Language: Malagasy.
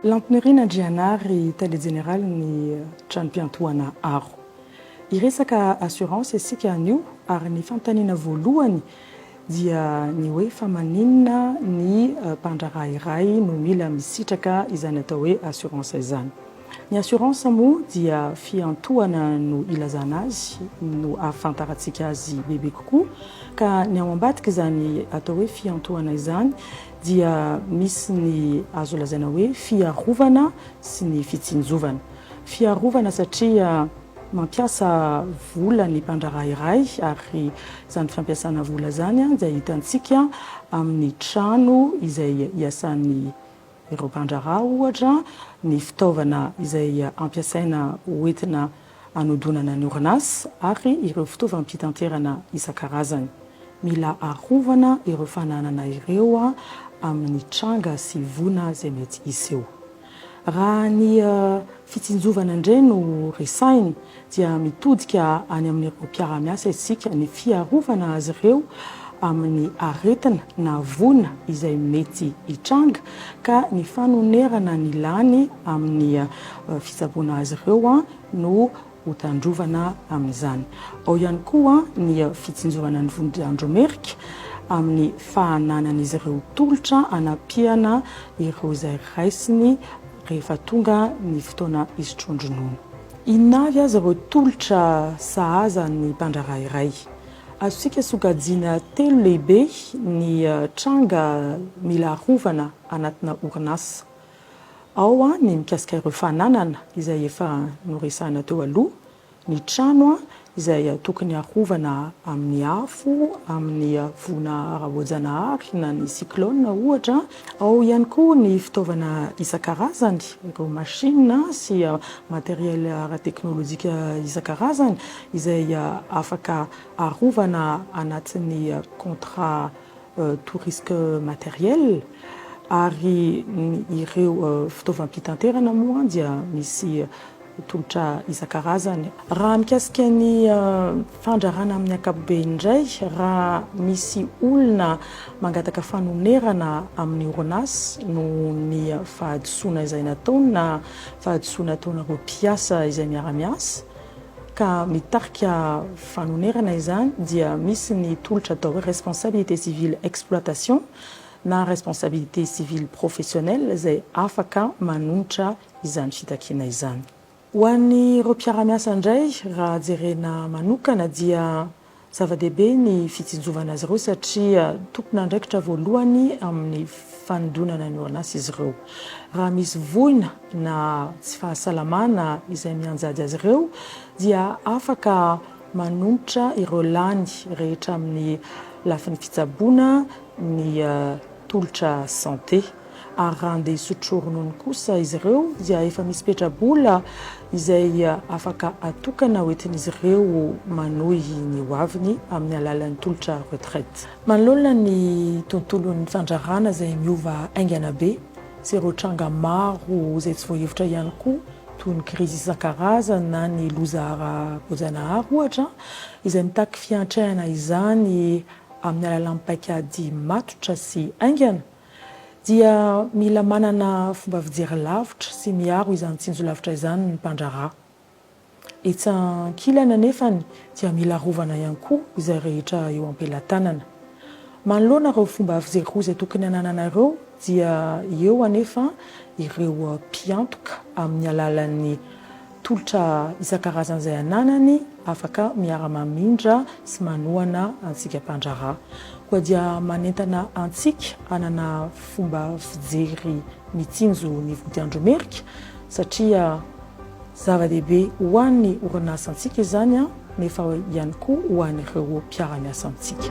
Lamponirin' Andrianary, Tale Jeneraly ny Tranom-piantohana Aro. Hiresaka assurance isika anio ary ny fanontaniana voalohany dia ny hoe fa maninona ny mpandraharaha iray no mila misitraka izany atao hoe assurance izany. Ny assurance moa dia fiantohana no ilazana azy no ahafantarantsika azy bebe kokoa ka ny ao ambadika izany atao hoe fiantohana izany dia misy ny azo lazaina hoe fiarovana sy ny fitsinjovana. Fiarovana satria mampiasa vola ny mpandraharaha iray ary izany fampiasana vola izany dia hitantsika amin'ny trano izay iasan'ny Ireo mpandraharaha, ohatra, ny fitaovana izay ampiasaina hoentina hanodonana ny orinasa ary ireo fitaovam-pitanterana isan-karazany. Mila arovana ireo fananana ireo amin'ny tranga sy voina izay mety hiseho. Raha ny. fitsinjovana indray no resahina dia mitodika any amin'ireo mpiara-miasa isika ny fiarovana azy ireo amin'ny aretina na voina izay mety hitranga ka ny fanonerana ny lany amin'ny fitsaboana azy ireo no hotandrovana amin'izany. Ao ihany koa ny fitsinjovana ny vondron-dRandro Merika amin'ny fahananan'izy ireo tolotra hanampiana ireo izay raisiny rehefa tonga ny fotoana hisotroan-dronono. Inona avy aza ireo tolotra sahaza ny mpandraharaha iray? Azontsika sokajiana telo lehibe ny tranga mila arovana anatina orinasa. Ao ny mikasika ireo fananana izay efa noresahina teo aloha, ny trano izay tokony harovana amin'ny afo, amin'ny voina ara-boajanahary na ny cyclone ohatra. Ao ihany koa ny fitaovana isan-karazany, ireo machine sy matériel ara-teknolojika isan-karazany izay afaka arovana anatin'ny contrat tout risque matériel, ary ny ireo fitaovam-pitanterana moa dia misy tolotra isan-karazany. Raha mikasika ny fandrarana amin'ny ankapobeny indray, raha misy olona mangataka fanonerana amin'ny orinasa noho ny fahadisoana izay nataony na fahadisoana ataon'ireo mpiasa izay miara-miasa, ka mitarika fanonerana izany dia misy ny tolotra atao responsabilité civile exploitation na responsabilité civile professionnelle izay afaka manohitra izany fitakiana izany. Ho an'ireo mpiara-miasa indray raha jerena manokana dia Zava-dehibe ny fitsinjovana azy ireo satria tompon'andraikitra voalohany amin'ny fanondronana ny ONAS izy ireo. Raha misy voina na tsy fahasalamana izay mianjady azy ireo dia afaka manonitra ireo lany rehetra amin'ny lafiny fitsaboana ny tolotra santé. ary raha handeha hisotro ronono kosa izy ireo dia efa misy petra-bola izay afaka atokana hoentin'izy ireo manohy ny ho aviny amin'ny alalan'ny tolotra retraite. Manoloana ny tontolon'ny fandraharana izay miova haingana be sy ireo tranga maro izay tsy voahevitra ihany koa toy ny krizy isan-karazany na ny loza ara-boajanahary ohatra izay mitaky fiantrehana izany amin'ny alalan'ny paikady matotra sy haingana, dia mila manana fomba fijery lavitra sy miaro izany tsinjo lavitra izany ny mpandraharaha. Etsy ankilany anefany dia mila arovana ihany koa izay rehetra eo am-pelatanana. Manoloana ireo fomba fijery roa izay tokony hananana ireo dia eo anefa ireo mpiantoka amin'ny alalan'ny. Tolotra isan-karazany izay ananany afaka miara-mamindra sy manohana antsika mpandraharaha. Koa dia manentana antsika hanana fomba fijery mitsinjo ny vodiandromerika satria zava-dehibe ho an'ny orinasantsika izany nefa ihany koa ho an'ireo mpiara-miasa amintsika.